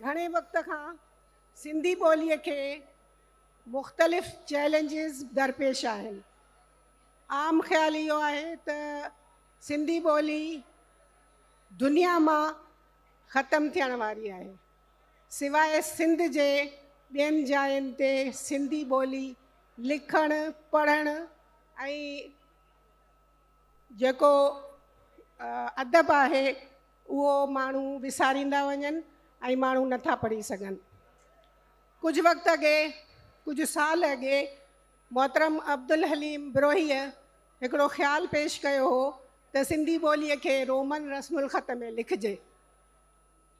گهڻي وقت کان سنڌي ٻوليء کي مختلف چئلينجز درپيش آهن. عام خيال اهو آهي ته سنڌي ٻولي دنيا مان ختم ٿيڻ واري آهي. سواء سنڌ جي ٻين جاين تي سنڌي ٻولي لکڻ، پڙهڻ ۽ جيڪو ادب آهي، اهو ماڻهو وساريندا وڃن ۽ ماڻهو نه ٿا پڙهي سگهن. ڪجهه وقت اڳي، ڪجهه سال اڳي، محترم عبدالحليم بروهيء هڪڙو خيال پيش ڪيو هو ته سنڌي ٻوليء کي رومن رسم الخط ۾ لکجي.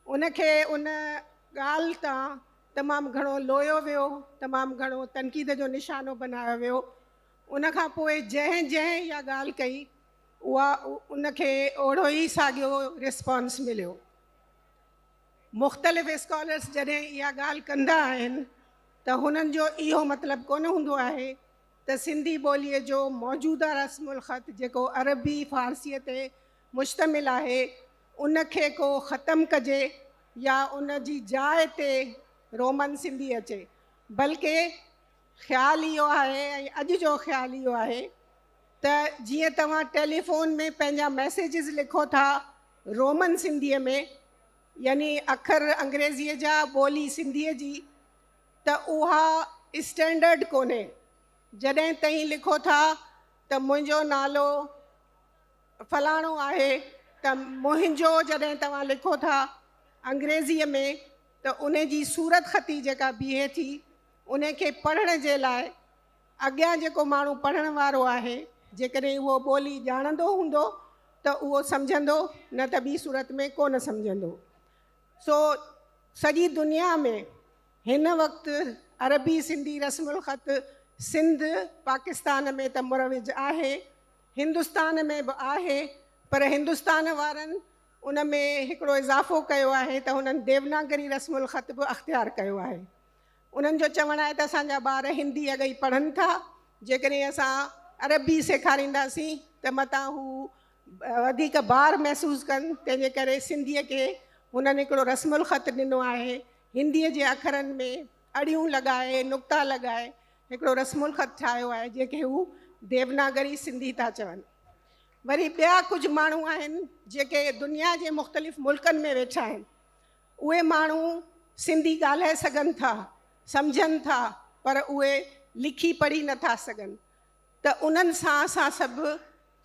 ان کي ان ڳالهه تان تمام گهڻو لويو ويو، تمام گهڻو تنقيد جو نشانو بنايو ويو. ان کان پوء جنهن جنهن اها ڳالهه ڪئي، اها ان کي اوڙو ئي ساڳيو ريسپانس مليو. مختلف اسڪالرس جڏهن اها ڳالهه ڪندا آهن ته هنن جو اهو مطلب ڪونه هوندو آهي ته سنڌي ٻوليء جو موجوده رسم الخط جيڪو عربي فارسيء تي مشتمل آهي ان کي ڪو ختم ڪجي يا ان جي جاء تي رومن سنڌي اچي بلڪه خيال اهو آهي ۽ اڄ جو خيال اهو آهي ته جيئن توهان ٽيليفون ۾ پنهنجا ميسيجز لکو ٿا رومن سنڌيء ۾ يعني اکر انگريزيء جا ٻولي سنڌيء جي ته اها اسٽينڊرڊ ڪونهي جڏهن تهين لکو ٿا ته منهنجو نالو فلاڻو آهي ته منهنجو جڏهن توهان لکو ٿا انگريزيء ۾ ته ان جي صورتخطي جيڪا بيهي ٿي ان کي پڙهڻ جي لاء اڳيان جيڪو ماڻهو پڙهڻ وارو آهي، جيڪڏهن اهو ٻولي ڄاڻندو هوندو ته اهو سمجهندو، نه ته ٻي صورت ۾ ڪو نه سمجهندو. سو سڄي دنيا ۾ هن وقت عربي سنڌي رسم الخط سنڌ، پاڪستان، ۾ ته مروج آهي، هندستان ۾ به آهي، پر هندستان وارن ان ۾ هڪڙو اضافو ڪيو آهي ته هنن ديوناگري رسم الخط به اختيار ڪيو آهي. انهن جو چوڻ آهي ته اسان جا ٻار هندي اڳ ئي پڙهن ٿا، جيڪڏهن اسان عربي سيکارينداسين ته متان هو وڌيڪ بار محسوس ڪن، تنهن جي ڪري سنڌيء کي هنن هڪڙو رسم الخط ڏنو آهي، هنديء جي اکرن ۾ اڙيون لڳائي، نقطا لڳائي هڪڙو رسم الخط ٺاهيو آهي، جنهن کي هو ديوناگري سنڌي ٿا چون. وري ٻيا ڪجهه ماڻهو آهن، جيڪي دنيا جي مختلف ملڪن ۾ ويٺا آهن، اهي ماڻهو سنڌي ڳالهائي سگهن ٿا، سمجهن ٿا پر اهي لکي پڙهي نه ٿا سگهن ته انهن سان اسان سڀ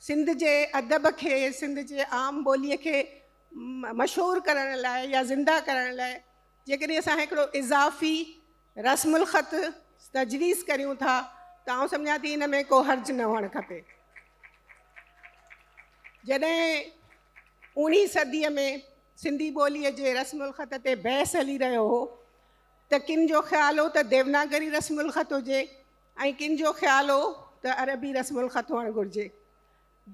سنڌ جي ادب کي سنڌ جي عام ٻولي کي مشهور ڪرڻ لاء يا زنده ڪرڻ لاء جيڪڏهن اسان هڪڙو اضافي رسم الخط تجويز ڪريون ٿا ته آئون سمجهان ٿي ان ۾ ڪو حرج نه هئڻ کپي. جڏهن اوڻي صدي ۾ سنڌي ٻوليء جي رسم الخط تي بحث هلي رهيو هو ته ڪن جو خيال هو ته ديوناگري رسم الخط هجي ۽ ڪن جو خيال هو ته عربي رسم الخط هئڻ گهرجي.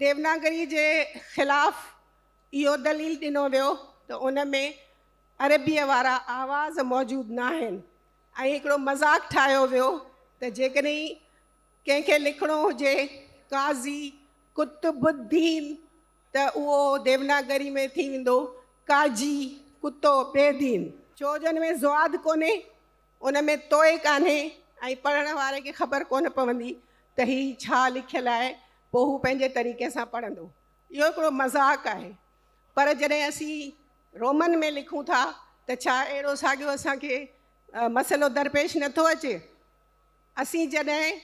ديوناگري جي خلاف اهو دليل ڏنو ويو ته ان ۾ عربيء وارا آواز موجود ناهن ۽ هڪڙو مذاق ٺاهيو ويو ته جيڪڏهن ڪنهن کي لکڻو هجي قاضي قطب الدين ته اهو ديوناگري ۾ ٿي ويندو ڪاجي ڪتو بي دين. ڇو جو ان ۾ زواد ڪونهي، ان ۾ توئي ڪانهي ۽ پڙهڻ واري کي خبر ڪونه پوندي ته هي ڇا لکيل آهي، پوء هو پنهنجي طريقي سان پڙهندو. اهو هڪڙو مذاق آهي. پر جڏهن اسين رومن ۾ لکون ٿا ته ڇا اهڙو ساڳيو اسان کي مسئلو درپيش نٿو اچي؟ اسين جڏهن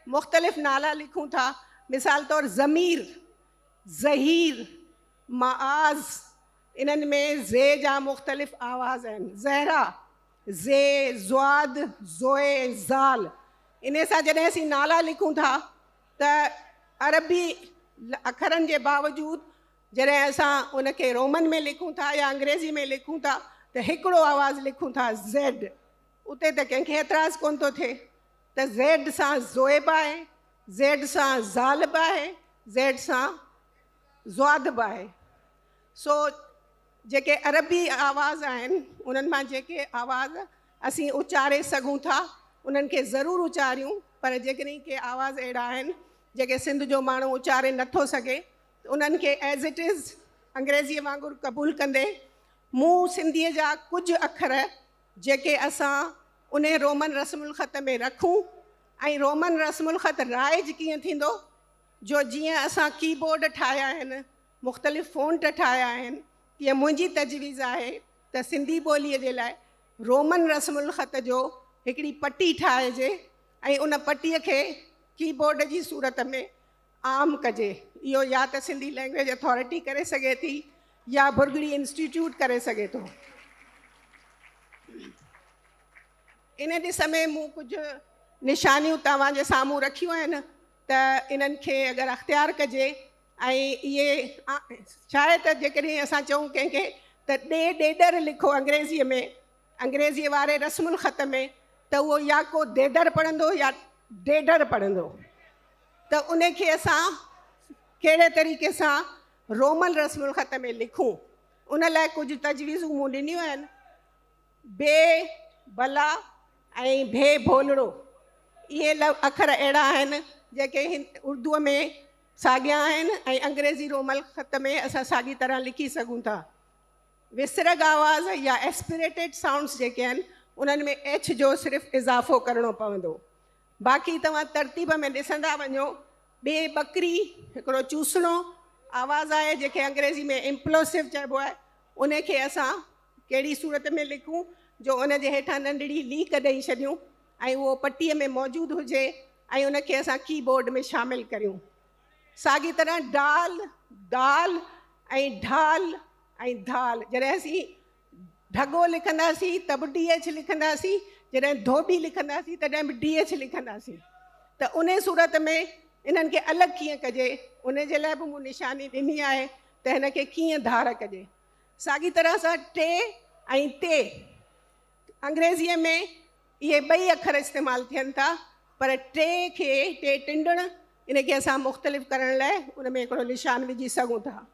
مختلف نالا لکون ٿا، مثال طور ضمير، ظهير، معاذ، انهن ۾ ذ جا مختلف آواز آهن، زهره، ذي، ذواد، ذوي، ذال، انهي سان جڏهن اسين نالا لکون ٿا ته عربي اکرن جي باوجود جڏهن اسان ان کي رومن ۾ لکون ٿا يا انگريزي ۾ لکون ٿا ته هڪڙو آواز لکون ٿا، زيڊ. اتي ته ڪنهن کي اعتراض ڪونه ٿو ٿئي ته زيڊ سان زوئي به آهي، زيڊ سان زال به آهي، زيڊ سان زواد به آهي. سو جيڪي عربي آواز آهن انهن مان جيڪي آواز اسين اچاري سگهون ٿا انهن کي ضرور اچاريون پر جيڪڏهن ڪي آواز اهڙا آهن جيڪي سنڌ جو ماڻهو اچاري نه ٿو سگهي ته انهن کي As It Is انگريزيء وانگر قبول ڪندي مون سنڌيء جا ڪجهه اکر جيڪي اسان انهي رومن رسم الخط ۾ رکون ۽ رومن رسم الخط رائج ڪيئن ٿيندو جو جيئن اسان ڪي بورڊ ٺاهيا آهن، مختلف فونٽ ٺاهيا آهن تيئن منهنجي تجويز آهي ته سنڌي ٻوليء جي لاء رومن رسم الخط جو هڪڙي پٽي ٺاهجي ۽ ان پٽيء کي ڪي بورڊ جي صورت ۾ عام ڪجي. اهو يا ته سنڌي لئنگويج اٿارٽي ڪري سگهي ٿي يا ڀرڳڙي انسٽيٽيوٽ ڪري سگهي ٿو. ان ڏس ۾ مون ڪجهه نشانيون توهان جي سامهون رکيون آهن ته انهن کي اگر اختيار ڪجي ۽ اهي شايد ته جيڪڏهن اسان چئون ڪنهن کي ته ڏي ڏيڏر لکو انگريزيء ۾ انگريزيء واري رسم الخط ۾ ته اهو يا ڪو ديدر پڙهندو يا ڊيڊر پڙهندو. ته ان کي اسان ڪهڙي طريقي سان رومن رسم الخط ۾ لکون ان لاء ڪجهه تجويزون مون ڏنيون آهن بي بلا ۽ ڀي ڀولڙو اهي اکر اهڙا آهن جيڪي اردو ۾ ساڳيا آهن ۽ انگريزي رومل خط ۾ اسان ساڳي طرح لکي سگهون ٿا وسرگ آواز يا ايسپريٽيڊ سائونڊس جيڪي آهن انهن ۾ ايڇ جو صرف اضافو ڪرڻو پوندو باقي توهان ترتيب ۾ ڏسندا وڃو، ٻي ٻڪري، هڪڙو چوسڻو آواز آهي جنهنکي انگريزي ۾ Implosive چئبو آهي، ان کي اسان ڪهڙي صورت ۾ لکون جو ان جي هيٺان ننڍڙي ليڪ ڏئي ڇڏيون ۽ اهو پٽي ۾ موجود هجي ۽ ان کي اسان ڪي بورڊ ۾ شامل ڪريون. ساڳي طرح ڊال، دال ۽ ڍال ۽ ڌال جڏهن اسين ڍڳو لکنداسين ته به ڊي ايڇ لکنداسين جڏهن ڌوٻي لکنداسين تڏهن به ڊي ايڇ لکنداسين ته انهي صورت ۾ انهن کي الڳ ڪيئن ڪجي انهي جي لاء به مون نشاني ڏني آهي ته هن کي ڪيئن ڌار ڪجي ساڳي طرح سان ٽي ۽ تي انگريزيء ۾ اهي ٻئي اکر استعمال ٿين ٿا پر ٽي کي ٽي ٽنڊڻ ان کي اسان مختلف ڪرڻ لاء ان ۾ هڪڙو نشان وجهي سگهون ٿا.